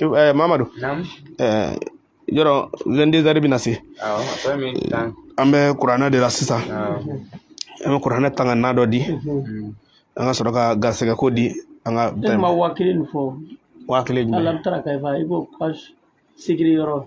eh, mamadu eh, yɔrɔ vingt-deux heures bɛna se an bɛ kuranɛ de la sisan an bɛ kuranɛ tanga na dɔ di mm-hmm. an ka sɔrɔ ka garisɛgɛ ko di an ka ne ma waa kelen fɔ waa kelen jumɛn ala bɛ taara ka ibo page sigiri yɔrɔ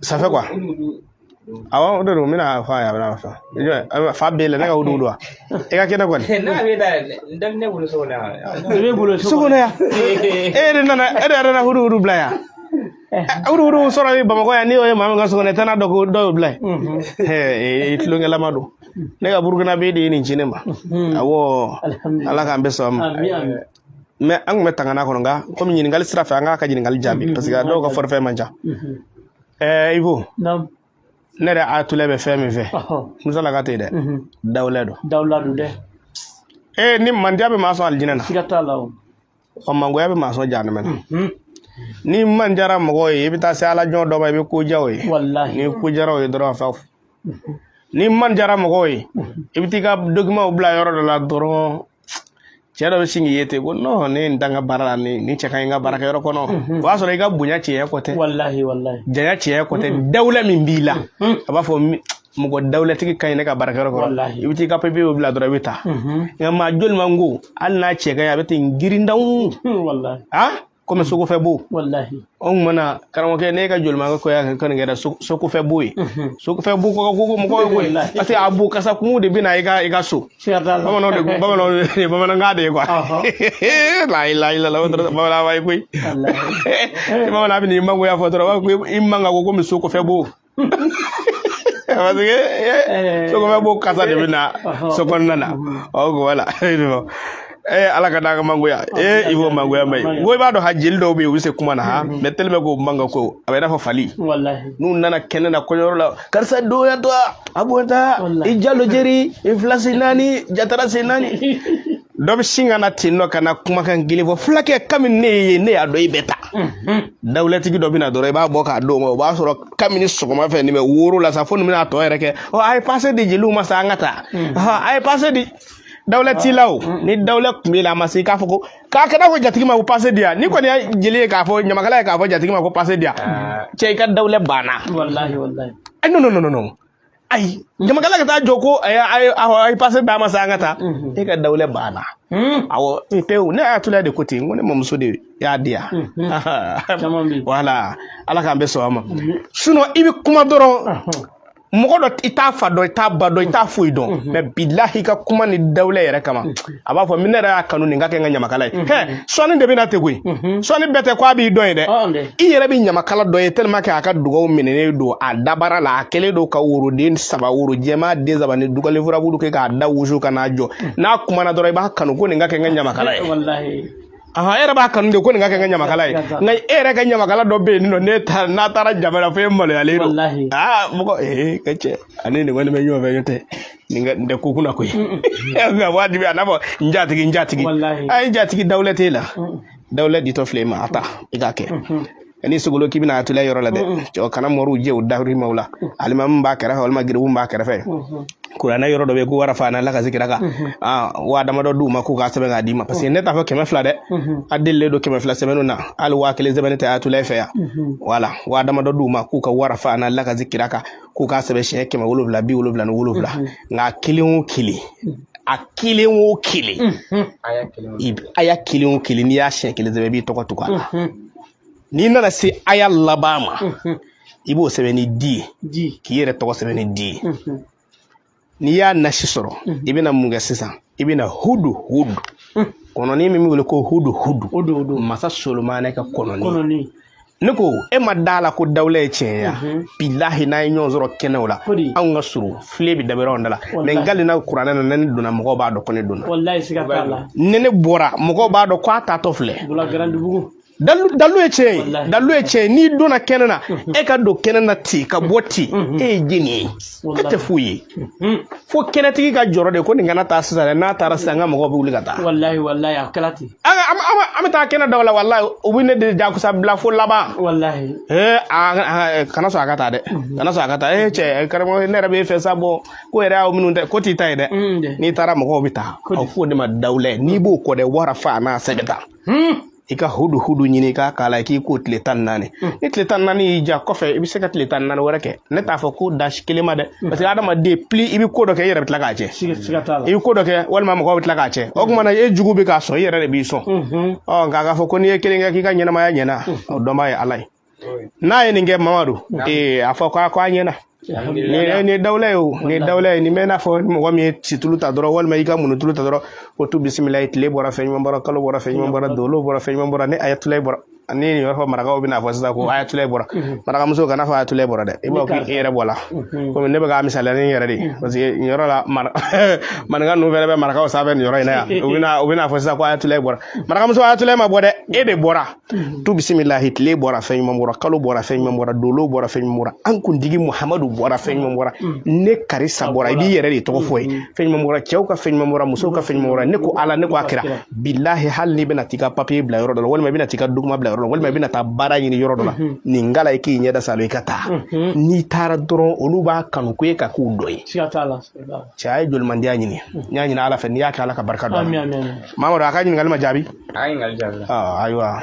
ça fait quoi awɔ o de don n bɛna fɔ a ye a bɛna fɔ fa b'e la ne ka hudu wa i ka kɛnɛ kɔni. ne bɛ da dɔ bɛ ne bolo so kɔnɔ yan. i bɛ bolo so kɔnɔ yan e de nana e de yɛrɛ nana hudu hudu bila yan. hudu hudu sɔrɔ bɛ bamakɔ yan n'i y'o ye maa min ka so kɔnɔ i tɛ n'a dɔn ko dɔ y'o bila yen. ee tulonkɛlama don ne ka burukinabɛ de ye nin ci ne ma awɔ ala k'an bɛɛ sɔn a ma. mɛ an tun bɛ tangana kɔnɔ nka komi ɲininkali sira fɛ an k'a ka ɲininkali jaabi mm-hmm. parce que a dɔw ka mm-hmm. forfait man ca mm-hmm. ɛɛ ibo ne yɛrɛ ayatollah bɛ fɛn min fɛ musa la ka tɛ dɛ dawula don dawula don dɛ ee ni mandiya bɛ maa sɔn alijinɛ na siga t'a la o ɔ mangoya bɛ maa sɔn jahanama na n'i man diyara mɔgɔw ye i bɛ taa se ala jɔn dɔ ma i bɛ ko diya o ye n'i ko diyara o ye dɔrɔn a fa n'i man diyara mɔgɔw ye i bɛ t'i ka dokimanw bila yɔrɔ dɔ la dɔrɔn cɛ dɔ bɛ sin k'i ye ten ko nɔn ne ye nin ta n ka baara la nin nin cɛ ka ɲi n ka baarakɛyɔrɔ kɔnɔ o y'a sɔrɔ i ka bonya cɛɲɛ ko tɛ walahi walahi janya cɛɲɛ ko tɛ dawula min b'i la a b'a fɔ mi- mɔgɔ dawulatigi ka ɲi ne ka baarakɛyɔrɔ kɔnɔ Walahi. i bɛ t'i ka papiyew bila dɔrɔn i bɛ taa nka maa jolimango hali n'a cɛ ka ɲi a bɛ ten girindanw walahi ah komi mm. sokɔfɛ bo anw mana karamɔgɔkɛ ne ka jolimangoya kɛ nin kɛra sokɔfɛ bo ye mm-hmm. sokɔfɛ bo ka go mɔgɔ ye koyi parce que a bo kasa goman de bɛ na i ka i ka so bamananw de bamananw de bamanankan de ye quoi la ilaha illallah bamananw ye koyi bamanan bɛ n'i mangoya fɔ dɔrɔn i man ka go komi sokɔfɛ bo parce que eh, eh. sokɔfɛ bo kasa de bɛ na so kɔnɔna na ɔ wala ee eh, ala k'an tanga mangoya ee ibo mangoya ma ye ko i b'a dɔn ha jeli dɔw bɛ yen u bɛ se kuma na ha mɛ tellement ko man ka go a bɛ i n'a fɔ fali n'u nana kɛnɛ na kɔɲɔyɔrɔ la karisa donya to a bɔnta i jalo jeri i fila si naani jatara si naani dɔ bɛ sin ka na ten non kana kumakan gɛlɛn fɔ fulakɛ kabini ne ye ne y'a dɔn i bɛ taa dawulatigi dɔ bɛ na dɔrɔn i b'a bɔ k'a d'o ma o b'a sɔrɔ kabini sɔgɔma fɛ nin bɛ woro la sa fo nin bɛna a tɔ yɛrɛ kɛ ɔ a ye pase di jeliw ma sa an ka taa ɔhɔn, a ye pase di dawula t'i la o ni dawula tun b'i la a ma se k'a fɔ ko k'a kɛ n'a fɔ jatigi ma ko pase di yan n'i kɔni ye jeli ye k'a fɔ ɲamakala ye k'a fɔ jatigi ma ko pase di yan cɛ i ka dawula banna walahi walahi Eh, non, non, non, non, non. ayi ɲamakala ka taa jɔ ko a ye pase d'a ma sa an ka taa mhm. e ka dawula banna hmm. awɔ pewu ne ayatollah de ko ten ko ne mamuso de y'a di yan mhm. wala ala k'an bɛɛ sɔn a ma sinɔn i bɛ kuma dɔrɔn mɔgɔ dɔ i t'a fa dɔn i t'a ba dɔn i t'a foyi dɔn mɛ bilahi ka kuma ni dawula yɛrɛ kama a b'a fɔ min ne yɛrɛ y'a kanu nin ka kɛ n ka ɲamakala ye mhm. hɛ sɔnni de bɛ na ten koyi mhm. sɔnni bɛɛ tɛ ko a b'i dɔn ye dɛ i yɛrɛ bɛ ɲamakala dɔ ye tellement que a ka dugaw minɛnen don a dabara la a kɛlen don ka woroden saba woro jɛman den saba ni dugalen furabulu kɛ k'a da wusu ka n'a jɔ mhm. n'a kumana dɔrɔn i b'a kanu ko nin ka kɛ n ka ɲamakala ye ahan e yɛrɛ b'a kanu de ko nin ka kɛ n ka ɲamakala ye Siga t'a la. nka e yɛrɛ ka ɲamakala dɔ bɛ yen nɔ ne taara n'a taara jama la fo e maloyalen don Walahi. aa mɔgɔ ee ka cɛ ani nin kɔni bɛ ɲɔgɔn fɛ n'o tɛ nin ka nin tɛ ko kunna koyi nka wajibi a n'a fɔ n jatigi n jatigi Walahi. a ye n jatigi dawula t'e la dawula ditɔ filɛ e ma a ta i k'a kɛ ni sogolo k'i bɛna Ayatula yɔrɔ la dɛ cɛw kana moriw jɛ u dawuri maw la alimamu b'a kɛrɛfɛ walima garibu b'a kɛrɛfɛ kuranɛ yɔrɔ dɔ bɛ yen ko wa rafana laka zikiraka waa damadɔ d'u ma k'u k'a sɛbɛn k'a d'i ma parce que ne t'a fɔ kɛmɛ fila dɛ a delilen don kɛmɛ fila sɛbɛnniw na hali waa kelen sɛbɛnni tɛ Ayatula fɛ yan voilà waa damadɔ d'u ma k'u ka wa rafana laka zikiraka k'u k'a sɛbɛn siɲɛ kɛmɛ wolonwula bi wolonwula ni wolonwula nka kelen o kelen a kelen o kelen aya kelen o kelen n'i y'a siɲɛ kelen sɛbɛn i b'i tɔgɔ tugu a la n'i nana se aya laban ma i b'o sɛbɛn ni di ye k'i yɛrɛ tɔgɔ sɛbɛn ni di ye n'i y'a nasi sɔrɔ i bɛna mun kɛ sisan i bɛna hudu hudu kɔnɔni min bɛ wele ko hudu hudu masa solomana ka kɔnɔni ne ko e ma da a la ko dawula ye tiɲɛ ye bilahi n'an ye ɲɔgɔn sɔrɔ kɛnɛw la anw ka surun filen bɛ dabiri anw de la mais n kalila kuranɛ na ne donna mɔgɔw b'a dɔn ko ne donna ne ne bɔra mɔgɔw b'a dɔn ko a taatɔ filɛ dawula ye tiɲɛ ye dawula ye tiɲɛ ye n'i donna kɛnɛ na e ka don kɛnɛ na ten ka bɔ ten e ye jɛni ye e tɛ foyi ye fo kɛnɛtigi ka jɔrɔ de ko nin kana taa sisan dɛ n'a taara sisan n ka mɔgɔw bɛ wuli ka taa an ka- an bɛ- an bɛ- an bɛ taa kɛnɛ dɔw la walayi u bɛ ne de jakusa bila fo laban walahi ee a a- kana sɔn a ka taa dɛ kana sɔn a ka taa ee cɛ karamɔgɔ ne yɛrɛ b'e fɛ sabu ko yɛrɛ y'aw minnu tɛ ko t'i ta ye dɛ Mm, dɛ. n'i taara mɔgɔw bɛ taa Ko di? aw f'o de ma dawula n'i b'o kɔ dɛ wa rafana sɛbɛn ta Hmm. i ka hudu hudu ɲini k'a k'a la k'i ko tile tan ni naani ni tile tan ni naani y'i diya kɔfɛ i bɛ se ka tile tan ni naani wɛrɛ kɛ ne t'a fɔ ko da kelen ma dɛ parce que adamaden pli i bɛ ko dɔ kɛ i yɛrɛ bɛ tila k'a tiɲɛ i bɛ ko dɔ kɛ walima mɔgɔw bɛ tila k'a tiɲɛ o tuma na e jugu bɛ k'a sɔn i yɛrɛ de b'i sɔn ɔ nka k'a fɔ ko n'i ye kelen kɛ k'i ka ɲɛnamaya ɲɛna o dɔnbaa ye ala ye n'a ye nin kɛ mamadu ee a fɔ k'a ko a ɲɛna nin ye dawula ye o nin ye dawula ye nin bɛ n'a fɔ mɔgɔ min ye situlu ta dɔrɔn walima i ka munutulu ta dɔrɔn ko tu bisimila ye tile bɔra fɛn ɲuman bɔra kalo bɔra fɛn ɲuman bɔra dolo bɔra fɛn ɲuman bɔra ni Ayatula bɔra ani nin yɔrɔ fɔ marakaw bɛna fɔ sisan ko ayatulayi bɔra marakamuso kana fɔ ayatulayi bɔra dɛ i b'a fɔ k'i yɛrɛ bɔra komi ne bɛ k'a misaliya ni n yɛrɛ de ye parce que nin yɔrɔ la maninka ninnu fɛnɛ bɛ marakaw sanfɛ nin yɔrɔ in na yan u bɛna u bɛna fɔ sisan ko ayatulayi bɔra marakamuso ayatulayi ma bɔ dɛ e de bɔra tu bisimilahi tile bɔra fɛn ɲuman bɔra kalo bɔra fɛn ɲuman bɔra dolo bɔra fɛn ɲuman bɔra an kuntigi muhamadu bɔra fɛn ɲuman bɔra ne karisa bɔra i b'i yɛrɛ de tɔgɔ fɔ yen fɛn ɲuman bɔra cɛw ka fɛn ɲuman bɔra musow ka fɛn ɲuman bɔra ne ko ala ne ko a kira bilahi hali n'i bɛna t'i ka papiye bila yɔrɔ dɔ la walima i bɛna t'i ka dokiman bila yɔrɔ la walima i bɛna taa baara ɲini yɔrɔ dɔ la mhm. nin kalan i k'i ɲɛda saalo i ka taa mhm. n'i taara dɔrɔn olu b'a kanu ko e ka k'u dɔ ye cɛ a ye jolimandiya ɲini mhm. n y'a ɲini ala fɛ n'i y'a kɛ ala ka barika don mamadu a ka ɲininkali ma jaabi ah, ayiwa